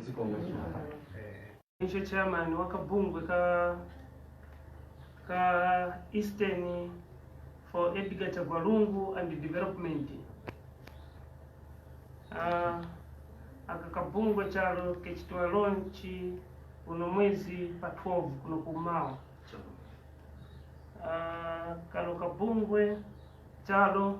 zikomo icho chairman wa kabungwe ka ka eastern for edgar chagwalungu and development Ah, aka kabungwe chalo kechitwa launch uno mwezi pa 12 kuno kumawa Ah, kano kabungwe chalo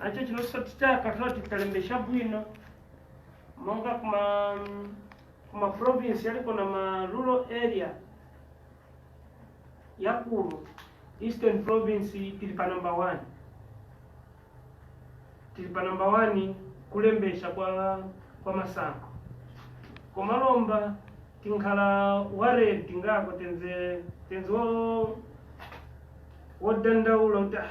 nacho chinonso tichaka toti talembesha bwino monga kuma kuma province yaliko na ma rural area yakulu eastern province tili pa number one tili pa number one kulembesha kwa kwa masankho koma lomba tinkhala worried tingako tenze tenze wo wodandaula kuti "Ah,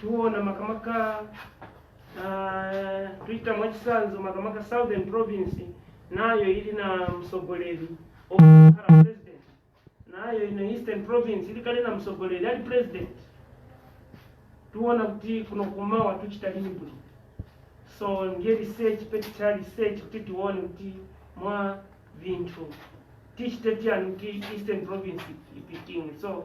tiona makamaka ah, tuchita mwachitsanzo makamaka southern province nayo ili na msogoleri okhala president nayo ino eastern province ili kale na msogoleri ali president tiona kuti kuno kumawa tuchita lini bwino so ndiye research peticha research kuti tione kuti mwa vinthu tichite tiyani kuti eastern province ipitinge so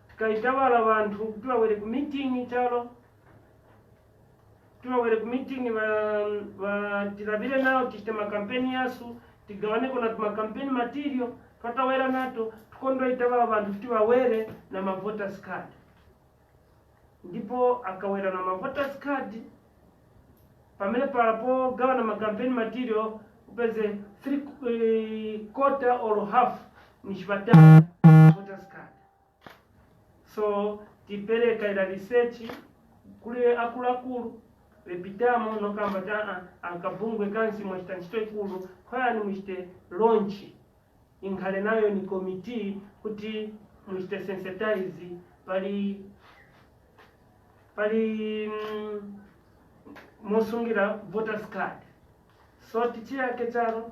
Tukaitabala abantu ukuti babwere ku meeting ichalo kuti babwere ku meeting ba, ba tilabire nao tichite makampeni yasu tigawaneko na tumakampeni material twatawera nato tukondoitabala abantu kuti bawere na mavoters card ndipo akawera na mavoters card pamene palapo gawa na makampeni material upeze three eh, quarter or half ni chibatala voters card so tipereka ila research kuli akuluakulu lepitamo nokamba ti aa ankabungwe kansi mwachita ntchito ikulu khoyani muchite launch inkhale nayo ni committee kuti muchite sensitize pali pali mm, mosungira voters card so tichiyake charo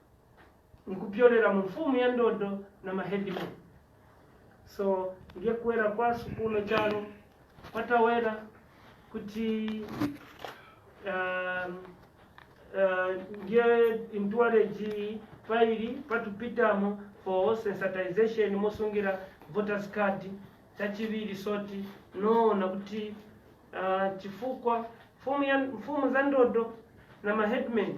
nkupyolera mu mafumu ya ndodo na mahedimeni so ndiye kuwera kwa sukulu chalo patawera kuti um, uh, ndiye intuwareji pairi patupitamo for sensitization mosungira voters card chachiviri so tinaona kuti uh, chifukwa mfumu ya- mfumu za ndodo na mahedman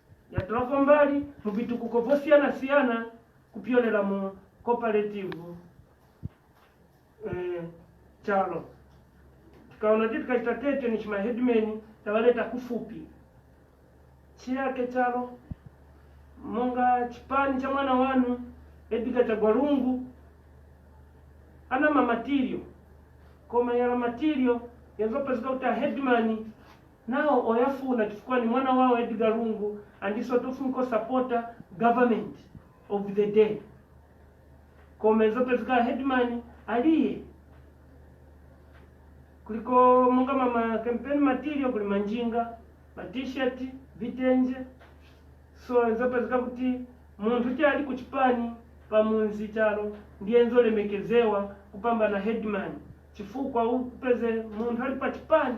yatolapo mbali mu vitukuko vosiyana-siyana kupyolela mu kopaletivu eh, chalo tikaona kuti tikachita tete ni chimahedmen tavaleta kufupi chiyake chalo monga chipani cha mwana wanu edgar chagwalungu ana mamatirio koma yala matirio yazopezeka kuti ahedman Nawo oyafuna chifukwa ni mwana wao Edgar Lungu andiso tofunka osapota government of the day koma izopezeka headman aliye kuliko monga mama campaign material kuli manjinga ma t-shirt vitenje so izopezeka kuti munthu ti ali kuchipani pamunzi chalo ndiye nzolemekezewa kupambana headman chifukwa upeze munthu ali pa chipani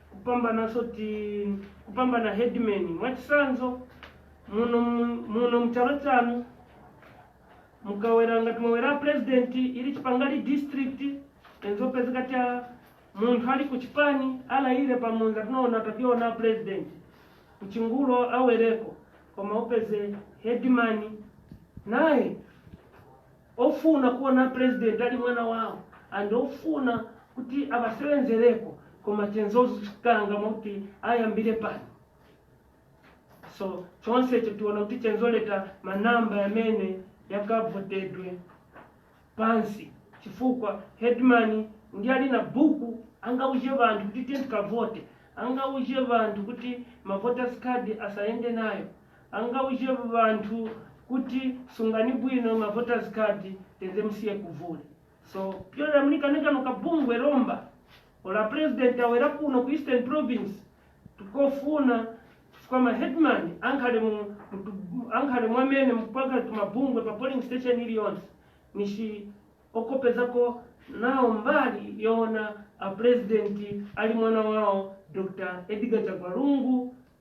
kupambana soti kupambana headman mwachisanzo muno mu- muno mchalo chano mukawera ngati mwawera president ili Chipangali district enzopezeka che munthu ali ku chipani alayire pamunza tinaona kationa president mchigulo awereko koma upeze headman naye Ofuna kuona president ali mwana wao and ofuna kuti abasewenzeleko koma chenzozu chikangama kuti ayambile pano so chonsecho tiona kuti chenzoleta ma number yamene yakavotedwe pansi chifukwa headman ndi ali na buku angauze banthu kuti tiye tikavote angauze banthu kuti ma voters card asayende nayo Angauze banthu kuti sungani bwino ma voters card teze musiye kuvula. So kupyolera muli kani kano ka bungwe lomba olo a president awera kuno ku Eastern province tikofuna chifukwa ma headman ankhale mu ankhale mwamene mupanga tumabungwe pa polling station iliyonse nishi okopezako nawo mbali yoona a president ali mwana wawo Dr. Edgar Chagwa Lungu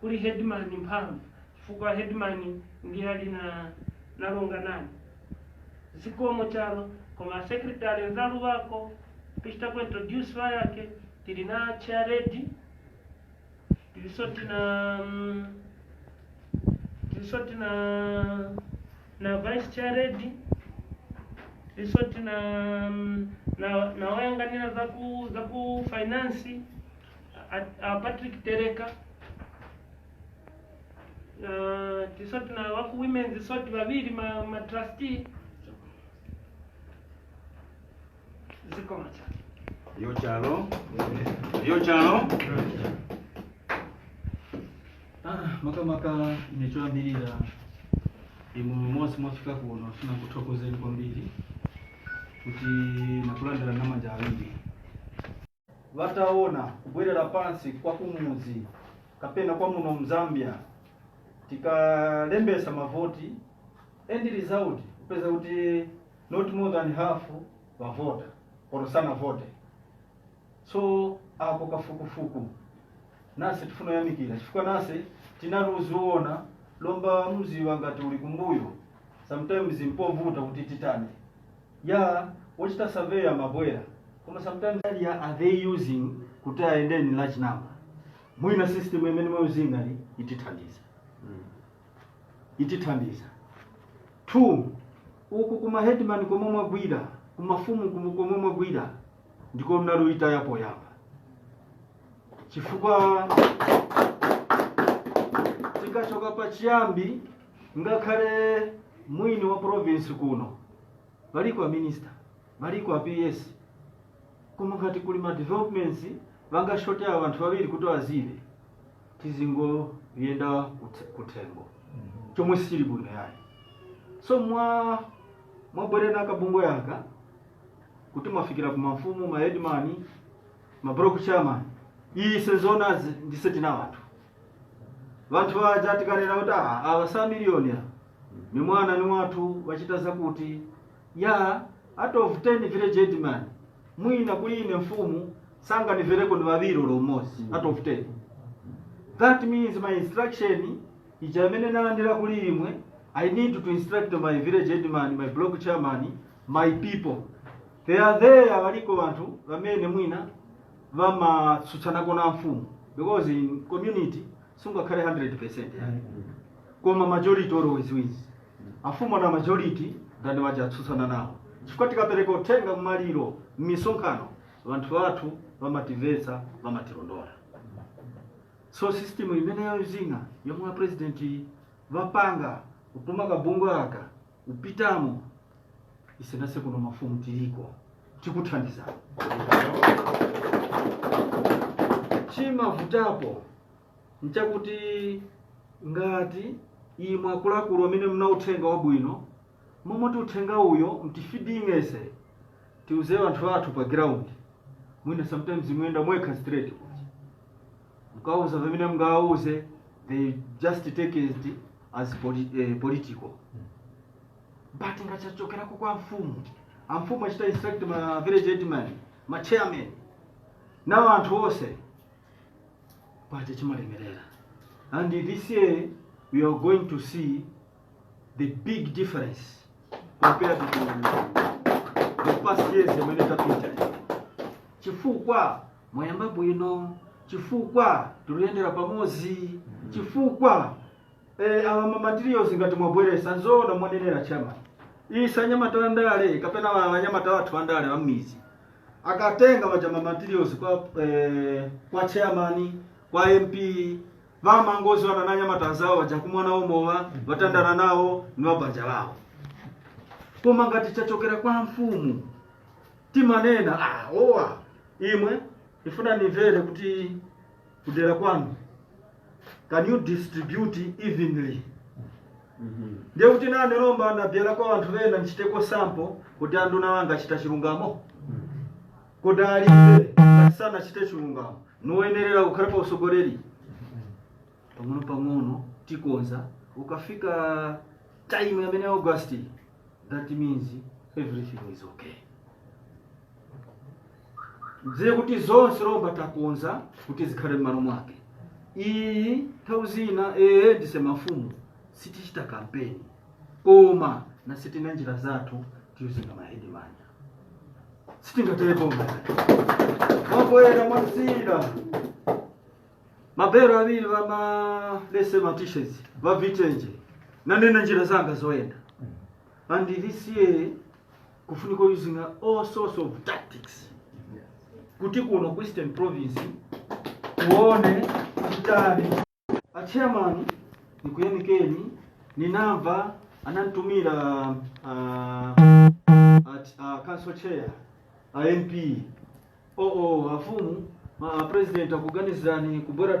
kuli headman mphamvu chifukwa headman ndiye ali na nalonganani zikomo chalo koma a secretary nzalu bako kuchita ku introduce ba yake tili na chair ready tilisoti na mm, tilisoti na na vice chair ready tilisoti na mm, na nawayanganira za ku za ku finance A, a Patrick Tereka na tisoti na waku women's soti babiri ma, ma trustee ziko macha Yo chalo. Yo chalo. Ah, makamaka nichoyambirira imwe monse mwafika kuno funa kuthokozeni kwambiri kuti nakulandira namanja awiri vataona kubwerera pansi kwa kumudzi kapena kwa muno mZambia tikalembesa mavoti end result kupeza kuti not more than half vavota or sanavote so apo kafukufuku nase tifuna yamikira chifukwa nase tinalikuziona lomba mziwa ngati uli kumbuyo sometimes mpovuta kuti titani ya wachita survey amabwera koma sometimes ya are they using kuti ayendeni large number mwina system imene mwayuzinga ni itithandiza itithandiza two uku kuma headman komwe mwagwira kumafumu kumu- komwe mwagwira ndiko mnaliyita yapoyamba chifukwa tikachoka pachiyambi ngakhale mwini wa province kuno baliko a minister baliko a ps koma ngati kuli ma developments bangashote avanthu babiri kuti azive tizingoyenda kuthe- kuthengo chomwe sichili bwino yayi so mwa mwabwerera na kabungwe aka kuti mwafikira ku mafumu ma headman ma block chairman iyi sezoona ndise tina wanthu vanthu vaja tikanena kuti "Ah, ava sa miliyoni ava ni mwana ni wathu wachita zakuti yeah out of 10 village headman mwina kuli ine mfumu sanganivereko ni vaviri olo umozi out of 10 that means my instruction ija imene nalandira kuli imwe i need to instruct my village headman my block chairman my people they are there valiko vanthu vamene mwina vamatsutsana ko na mfumu because in community sungakhale 100% yayi koma majority always wins afumu na majority ndani waja atsutsana nawo chifukwa tikapereka uthenga mmaliro mmisonkhano vanthu vathu vamativetsa vamatilondola so system imeneyo zina yomwe a president vapanga kutuma kabungwe aka Kupitamo ise nase kuno mafumu tiliko tikuthandiza chimavutapo nchakuti ngati imwe akuluakulu amene mna uthenga wabwino momoti uthenga uyo mtifidinge ise tiuze anthu athu pa ground mwina sometimes muyenda mwekha straight mkauza pamene mngawauze they just take it as poli, eh, political but nga chachokerako kwa mfumu amfumu achita instruct ma village headman ma chairman na anthu onse paja chimalemerera and this year we are going to see the big difference compared to the past years yamene tapita chifukwa mwayamba bwino chifukwa tikuyendera pamodzi chifukwa eh, awa mamaterials ngati mwabweresa nzoona mwanenera chama isi anyamata wa ndale kapena wa- anyamata wathu wa ndale wa m'mizi akatenga waja mamaterials kwa eh, kwa chairman kwa mp vamangoziwana na anyamata anzawo waja kumwa nawo mowa vatandana nawo ni wabanja lawo koma ngati chachokera kwa mfumu timanena ah, owa imwe ndifuna ndimvere kuti kudera kwanu can you distribute evenly ndiye kuti nane lomba ndabwera kwa anthu ena ndichiteko sample kuti anduna wanga achita chilungamo kuti alibe ngati sanachite chilungamo noyenerera kukhala pa usogoleri pang'ono pang'ono tikonza ukafika time yamene ya august That means everything is okay. Ndiye kuti zonse lomba takonza kuti zikhale m'malo mwake. Iyi nthawi zina ee ndise mafumu sitichita kampeni koma nase tina njira zathu tiuzinga mahedimani sitingatele boma mambo ena mwazira mabelo awiri va ma lese ma t-shirts va vitenje nane na njira zanga zoyenda and this year kufunika using all sorts of tactics kuti kuno ku eastern province tione titani achairman nikuyamikeni ninamva anantumira uh, at, uh, council chair a MP oo afumu ma a president akuganizirani kubwera